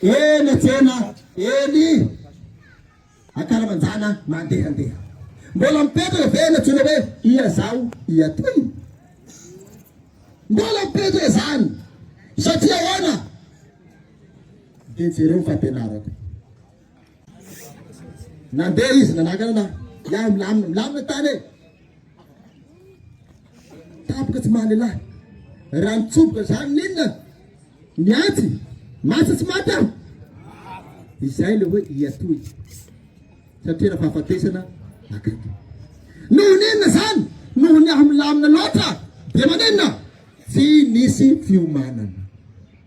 Eny tsena, eny ankalamanjana mandehandeha. Mbola mipetraka ve ny antsoina hoe ia zao ia toy? Mbola mipetraka izany satria ahoana? Dia jereo ny fampianarako. Nandeha izy nanakana na yaho milamina milamina tany e. Tapoka tsy maha lehilahy. Raha mitsoboka zany n'inona? Ny antsy masa tsy maty aho. Izay le hoe iatoy satria raha fahafatesana akaiky. Noho n'inona zany? Noho ny aho milamina loatra dia manenina tsy nisy fiomanana.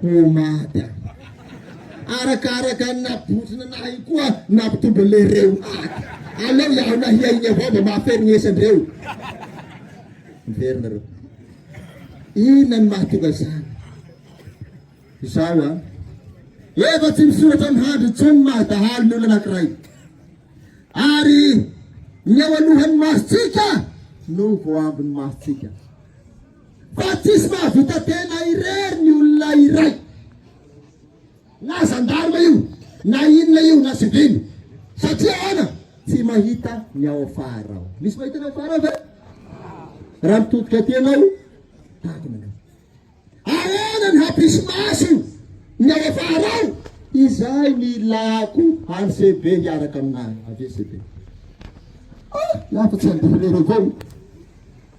Pomada. Arakaraka ny nabontsina nahay koa nampitombo le reumaty. Aleo iaho nahia iny avao mba mahaferignesy andreo. Miverina reo. Inona ny mahatonga zany? Zao an. Efa tsy misoratra amin'ny handry intsony ny maha dahalo ny olona anankiray. Ary ny eo alohan'ny masontsika no voaambin'ny masontsika. Fa tsisy mahavita tena irery ny olona iray. Na zandarma io, na inona io, na sivily. Satria ahoana? Tsy mahita ny ao afara ao. Misy mahita ny ao afara ao ve? Raha mitodika aty ianao, takona ianao. Ahoana ny hampisy maso ny ao afara ao? Izay ny ilako any CB hiaraka aminà avy CB. Ah, lafa tsy andivin'ireo vao.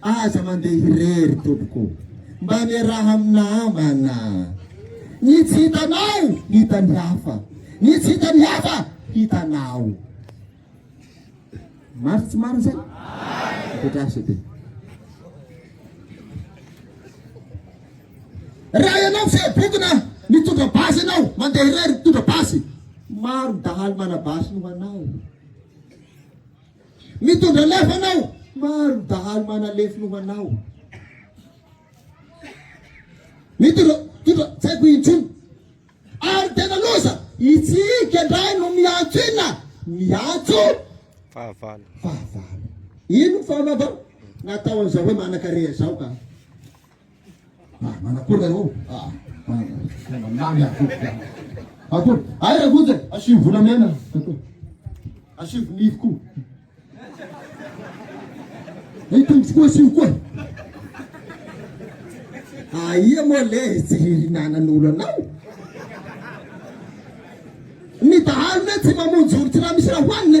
Aza mandeha irery tompoko mba miaraha amin'ny namana. Ny tsy hitanao hitan'ny hafa, ny tsy hitan'ny hafa hitanao. Marina tsy marina zay? Petraso be. Raha ianao tsy bokona mitondra basy ianao, mandeha irery mitondra basy. Maro dahalo manabasy ho anao. Mitondra lafo anao. Maro ny dahalo manalefo noho anao. Mitondra tondra tsy haiko intsony. Ary tena loza. Isika indray no miantso inona? Miantso Fahavalo. fahavalo. Ino ny fahavalobao? Natao an'izao hoe manankareha izao ka. Ah, manakora eo. Ah, manakora. Mamy akory. Akory. Ay, ragoja, asivo volamena. Asivo nify koa. Ny tongotra koa asivo koa. Aia moa le tsy ririnanan'olo anao. Ny dahalo le tsy mamonjy olo tsy raha misy raha hoanina.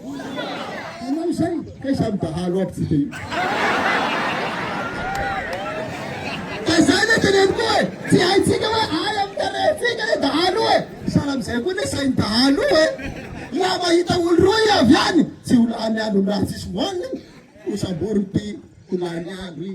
Ianao izay kay samy dahalo aby tsika io. Fa izay le teneniko e, tsy haintsika hoe ahy amin'ny tarehintsika le dahalo e. Sahala amin'izay koa le sain'ny dahalo e. Raha mahita olo roa i avy any, tsy ho lany andro ny raha tsisy voaniny, ho samborin'ity, ho lany andro i.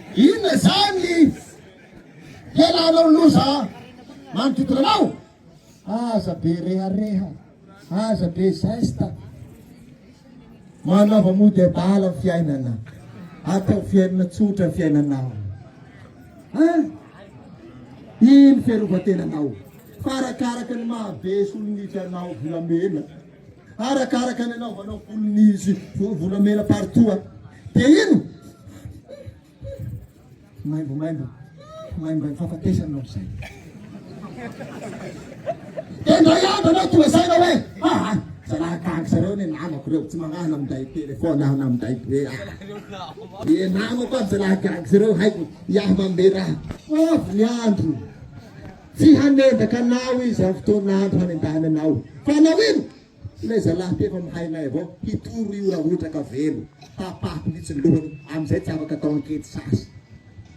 Inona izany ny hialanao loza manodidina anao? Aza be rehareha, aza be zesta. Manaova mody adala ny fiainana. Atao fiainana tsotra ny fiainanao. Ah! Ino fiarovan-tenanao? Fa arakaraka ny mahabe solon'idranao volamena Arakaraka ny anaovanao volon'izy volamena partout a. Dia ino? Maimbomaimbo. Maimbomaimbo fahafatesana ao izay. Dia ndray andro anao toa izay na hoe ah, zalahy tahaka zareo ny namako ireo tsy manahana minday telefona aho na minday be aho. Dia namako aby zalahy gaga zareo haiko iaho manome raha. Avy ny andro. Tsy hanendaka anao izy amin'ny fotoan'andro hanendahany anao. Fa hanao inona? Ilay zalahy tefa mihainay avao hitoro io rahotraka velo, tapahako mihitsy ny lohany, amin'izay tsy afaka atao ankety sasy.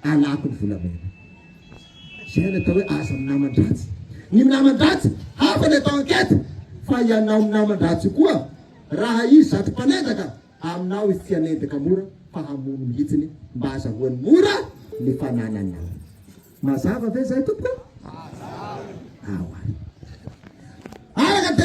Alako ny volamena. Izay no atao hoe aza minaman-dratsy. Ny minaman-dratsy, hafa ny atao ankety, fa ianao minaman-dratsy io koa, raha izy zatra mpanendaka, aminao izy tsy hanendaka mora fa hamono mihitsy mba hazahoany mora ny fanananao. Mazava ve zay tompoko? Mazava. Ao ary. Araka